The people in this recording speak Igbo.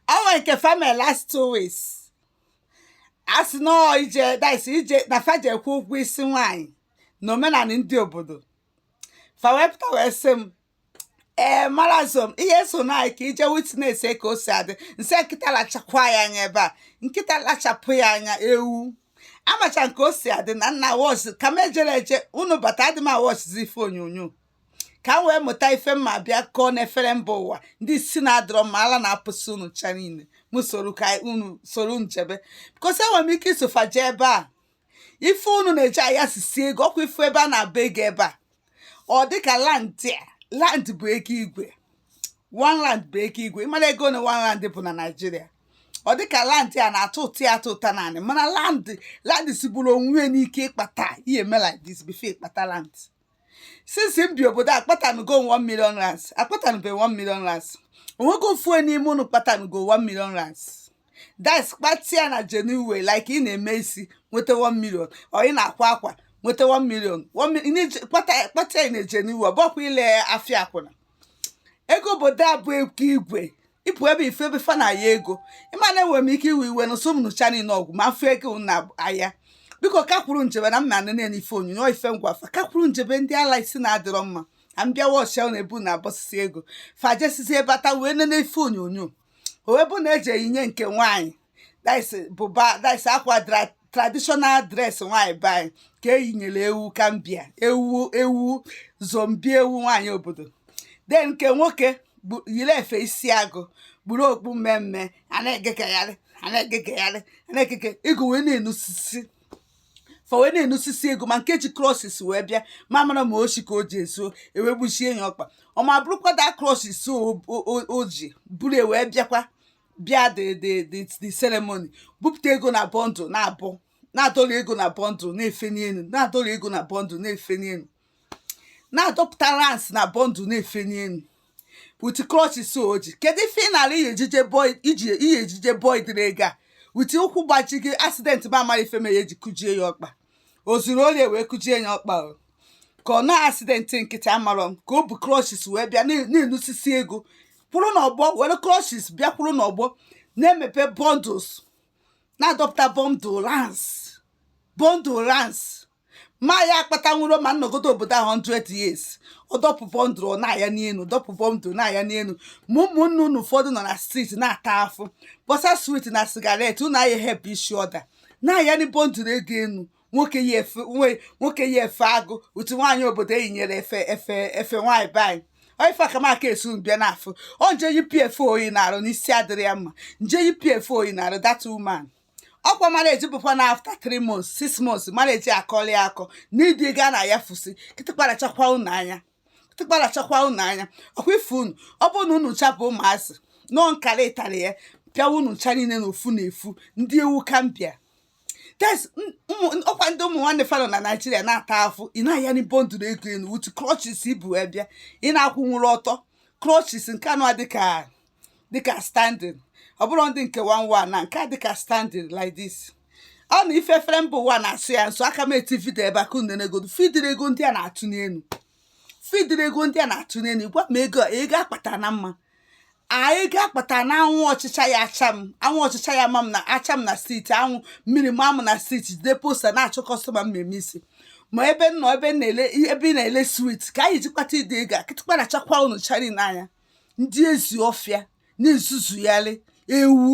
ọ nwere nke family last two weeks a sị na ọ ije that's ije na fa jee kwụ ụgwọ isi nwaanyị na omenala ndị obodo fa wee pụta wee sị m ee marazom ihe so na anyị ka ị je witness ka o si adị m sị nkịta lachakwa ya anya ebe a nkịta lachapụ ya anya ewu amacha nke o si adị na m na-awọchị ka m ejere eje unu bata adị m awọchịzi ife onyonyo ka m wee mụta ife m ma-abịa kọọ n'efere mba ụwa ndị isi na-adịrọ mma ala na-apụsị unu cha niile m soro ka unu soro m jebe because enwere m ike iso fa jee ebe a ife unu na-eji ayasisi ego ọkwa ife ebe a na-abụ ego ebe a ọ dịka rand a rand bụ ego igwe one rand bụ ego igwe ị mara ego na one rand bụ na naijiria ọ dịka rand a na-atụtụ ya atụtụta n'anị mana rand rand sigburu onwe ya n'ike ịkpata ị ya-eme like this before ị kpata rand since m bi obodo a kpatanugo m 1 million rands akpatanube 1 million rands o nwego ofu onye n'ime unu kpatanugo 1 million rands that's kpata ya na genuine like ị na-eme isi nweta 1 million or ị na-akwa akwa nweta 1 million One mi- ị na-eji- kpata kpata ya na genuine ọ bụkwa ile afịa akwụna ego obodo a bụ ego igwe ị fụ ebe ife ebe fa na-aya ego ị ma na enwere m ike iwe iwe n'ụsọ m nụcha niile ọgwụ ma m fụ ego na-aya because ka a kpọrọ m jebe na m ma na-enene ife onyonyo ife m gwa fa ka a kpọrọ m jebe ndị ala isi na-adịrọ mma ka m bịa wọchị ebe unu na-abọsisi ego fa jesizie bata wee nene ife onyonyo o wee bụ na eji eyinye nke nwaanyị that's buba that's akwa traditional dress nwaanyị be anyị ka eyinyere ewu Gambia ewu ewu zombie ewu nwaanyị obodo then nke nwoke yiri efe isi agụ kpuru okpu mme mme a na-egegagharị a na-egegagharị a na-egege ịgụ wee na-enusisi fa wee na-enusisi ego ma nke ji crutches wee bịa ma mara ma oshi ka o je zuo e wee gbujie ya ọkpa ọ ma bụrụkwa that crutches o ji buru e wee bịakwa bịa the the the the ceremony bupụta ego na bundle na-abụ na-adọrọ ego na bundle na-efe n'elu na-adọrọ ego na bundle na-efe n'elu na-adọpụta rands na bundle na-efe n'elu with crutches o ji kedu ife ị na-ala ihe ejije boy iji ihe ejije boy dịrị ego a with ụkwụ gbaji gị accident ma amara ife mere eji kụjie ya ọkpa o zuru ori wee kụjie ya ọkpa ka ọ na accident nkịtị amarọ m ka o bu crutches wee bịa na-enusisi ego kwụrụ n'ọgbọ were crutches bịa kwụrụ n'ọgbọ na-emepe bundles na-adọpụta bundle rands bundle rands m aya akpatanwuru ma m nọgodo obodo ahụ 100 years ọ dọpụ bundle ọ na-aya n'elu dọpụ bundle na-aya n'elu ma ụmụnne unu ụfọdụ nọ na street na-ata afụ kpọsa sweet na cigarette unu aya help each other na-ayani bundle ego enu nwoke yi efe agụ otu nwaanyị obodo eyinyere efe nwaanyị be anyị Ọ ife aka m aka esu mbịa n'afọ ọ nje yipụ efe o yi n'arụ n'isi adịrọ ya mma nje yipụ efe o yi n'arụ that woman ọkwa marriage bụkwa na after 3 months 6 months marriage akọli akọ n'idi gaa na ya fusi kịtịkpa rachakwa unu anya tịkpa rachakwa unu anya ọkwa ife unu ọ bụrụ na unu ncha bụ ụmụazị nọ nkara ịtarị apịawa unu ncha niile na ofu na ofu ndị ewu Gambia that's ọkwa ndị ụmụ nwanne fa nọ na naijiria na-ata afụ ị na-ayani bundle ego enu utu crutches i bu wee bịa ị na-akwụnwuru ọtọ crutches nke anụwa dịka dịka standing ọ bụrụ ndị nke anụwa na nke a dịka standing like this ọ na ife efere mba ụwa na-asọ ya nsọ ka m tie video ebe a ka unu neegodu fụ ụdịrị ego ndị a na-atụ n'elu gwa m ego akpata na mma ego akpata na anwụ ọchịcha ya ma m na-acha m na street anwụ mmiri ma m na street jide poster na-achọ customer mmemme isi ma ebe ị na-ele sweet ka anyị ji kpata ụdị ego a kịtịkpa rachakwa unu ncha niile anya ndị ezi ọfịa na-ezuzugharị ewu